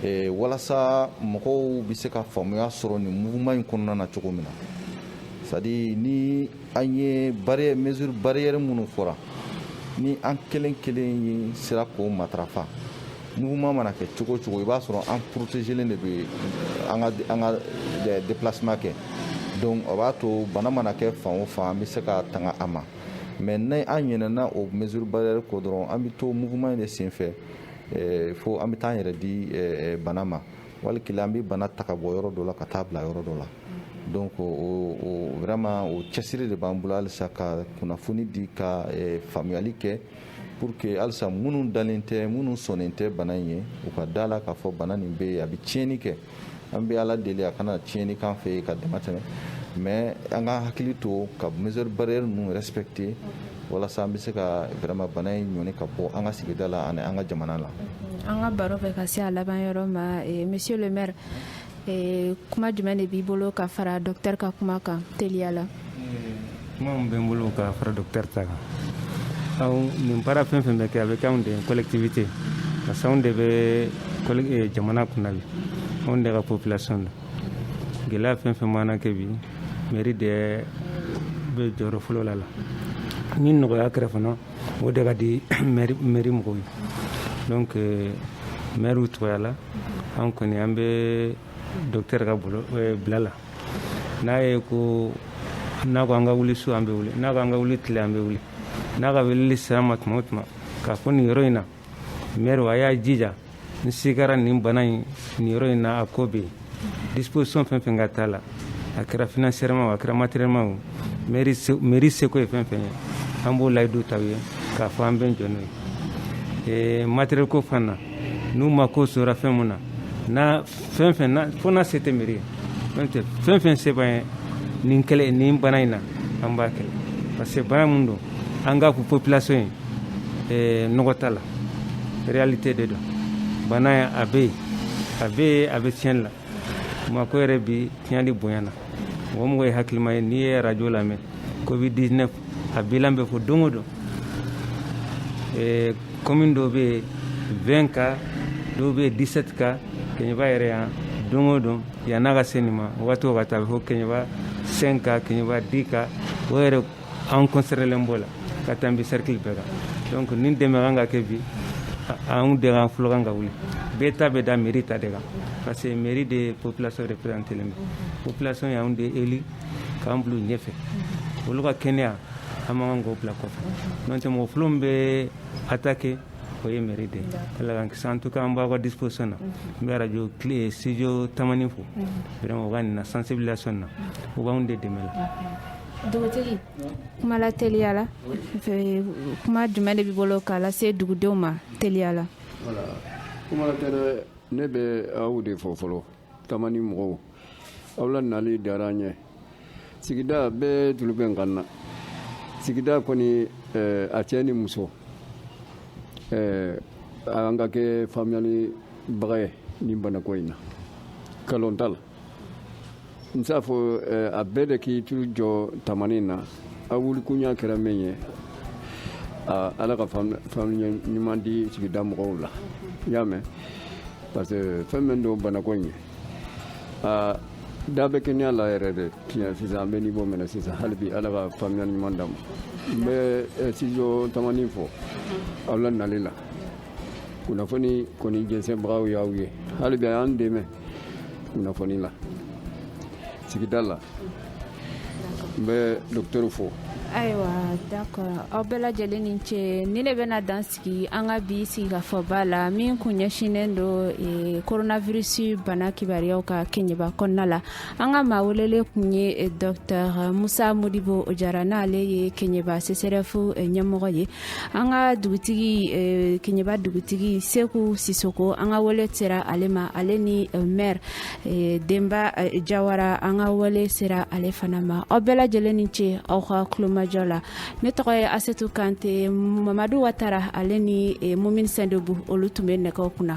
F: ee walasa mɔgɔw bɛ se ka faamuya sɔrɔ nin mouvement in kɔnɔna na cogo min na c'est-à-dire ni an ye mesure barrière minnu fɔra ni an kelen kelen ye sera k'o matarafa mouvement mana kɛ cogo o cogo i b'a sɔrɔ an protégelen de bɛ an ka an ka déplacement kɛ donc o b'a to bana mana kɛ fan o fan an bɛ se ka tanga a ma mais ni an ɲinɛna o mesure barrière kɔ dɔrɔn an bɛ to mouvement in de senfɛ eh, fo an bɛ taa an yɛrɛ di eh, eh, bana ma wali kelen an bɛ bana ta ka bɔ yɔrɔ dɔ la ka taa bila yɔrɔ dɔ la donc o vraiment o cɛsiri de b'an bolo halisa ka kunnafoni di ka faamuyali kɛ pour que halisa minnu dalen tɛ minnu sɔnnen tɛ bana in ye u ka da la k'a fɔ bana nin bɛ yen a bɛ tiɲɛni kɛ an bɛ ala deli a kana tiɲɛni k'an fɛ yen ka dama tɛmɛ mais an ka hakili to ka mesure barrière ninnu respecter walasa an bɛ se ka vraiment bana in ɲɔni ka bɔ an ka sigida la ani an ka jamana la an ka baro
C: bɛ ka se a laban yɔrɔ ma eh, monsieur le maire eh, kuma jumɛn de b'i bolo ka fara docteur ka kuma kan teliya la kuma
D: min bɛ n bolo ka fara docteur ta kan nin baara fɛn fɛn bɛ kɛ a bɛ kɛ anw de ye collectivité parce que anw de bɛ jamana kunna bi anw de ka population don gɛlɛya fɛn fɛn mana kɛ bi mairie de bɛ jɔyɔrɔ fɔlɔ la la ni nɔgɔya kɛra fana o de ka di mairie mɔgɔw ye donc mairie tɔgɔya la an kɔni an bɛ docteur ka bila la n'a ye ko n'a ko an ka wuli su an bɛ wuli n'a ko an ka wuli tile an bɛ wuli n'a ka weleli sera an ma tuma o tuma k'a fɔ nin yɔrɔ in na mairie a y'a jija n sigara nin bana in nin yɔrɔ in na a ko bɛ yen disposition fɛn fɛn ka t'a la a kɛra financièrement o a kɛra matériellement o mairie seko ye fɛn fɛn ye an b'o layidu ta u ye k'a fɔ an bɛ jɔ n'o ye matériel ko fan na n'u mako jɔra fɛn mun na n'a fɛn fɛn na fo n'a se tɛ mairie ye n'o tɛ fɛn fɛn se b'an ye nin kɛlɛ nin bana in na an b'a kɛlɛ parce que bana min don an k'a fɔ population ye nɔgɔ t'a la réalité de don bana in a bɛ yen a bɛ yen a bɛ tiɲɛni la bamakɔ yɛrɛ bi tiɲɛli bonyana mɔgɔ mɔgɔ ye hakilima ye n'i ye radio lamɛn covid 19 a bilan bɛ fɔ don o don ɛɛ commune dɔw bɛ yen vingt cas dɔw bɛ yen dix-sept cas kɛɲɛba yɛrɛ yan don o don yann'a ka se nin ma waati o waati a bɛ fɔ kɛɲɛba cinq cas kɛɲɛba dix cas o yɛrɛ an concernélen b'o la ka tanbi cercle bɛɛ kan donc nin dɛmɛ kan ka kɛ bi anw de kan fɔlɔ kan ka wuli bɛɛ ta bɛ da mairie ta de kan parce que mairie de population représentélen bɛ population y'anw de élu k'an bila ɲɛfɛ olu ka kɛnɛya an man kan k'o bila kɔfɛ n'o tɛ mɔgɔ fɔlɔ min bɛ attaquer o ye mairie de ala k'an kisi en tout cas an b'aw ka disposition na n bɛ radio studio tamani fo vraiment u ka nin na sensibilisation na u b'an de dɛmɛ la
C: dugutigi kuma la teliya la kuma jumɛn de b'i bolo k'a lase dugudenw ma teliya la
G: ne bɛ aw de fo fɔlɔ Tamani mɔgɔw aw la nali diyara an ye sigida bɛɛ tulo bɛ n kan na sigida kɔni eh, a cɛ ni muso eh, an ka kɛ faamuyalibaga ye nin banako in na kalon t'a la n t'a fɔ eh, a bɛɛ de k'i tulo jɔ tamani na a wulikunya kɛra min ye aa, ala ka faamu- faamuyali ɲuman di sigida mɔgɔw la i y'a mɛn parce que fɛn min don banako in ye aa, da bɛ kɛnɛya la yɛrɛ de tiɲɛ sisan an bɛ niveau min na sisan hali bi ala ka faamuyali ɲuman d'an ma n bɛ eh, studio tamani fo aw la nali la kunnafoni kɔni jɛnsɛnbagaw y'aw ye hali bi a y'an dɛmɛ kunnafoni la sigida la n bɛ docteur fo ayiwa
C: d'accord aw bɛɛ lajɛlen ni ce ni ne bɛna dan sigi an ka bi sigikafɔba la min kun ɲɛsinnen don eh, coronavirus bana kibaruyaw kan keɲeba kɔnɔna la an ka maa welelen kun ye eh, docteur musa modibo jara n'ale ye keɲeba seserefu eh, ɲɛmɔgɔ ye an ka dugutigi keɲeba dugutigi seku sisoko an ka wele sera ale ma ale ni maire denba jawara an ka wele sera ale fana ma aw bɛɛ lajɛlen ni ce aw ka kulomajɔ la ne tɔgɔ ye asetu kante mamadu watara ale ni mumini sendebu olu tun bɛ nɛgɛw kunna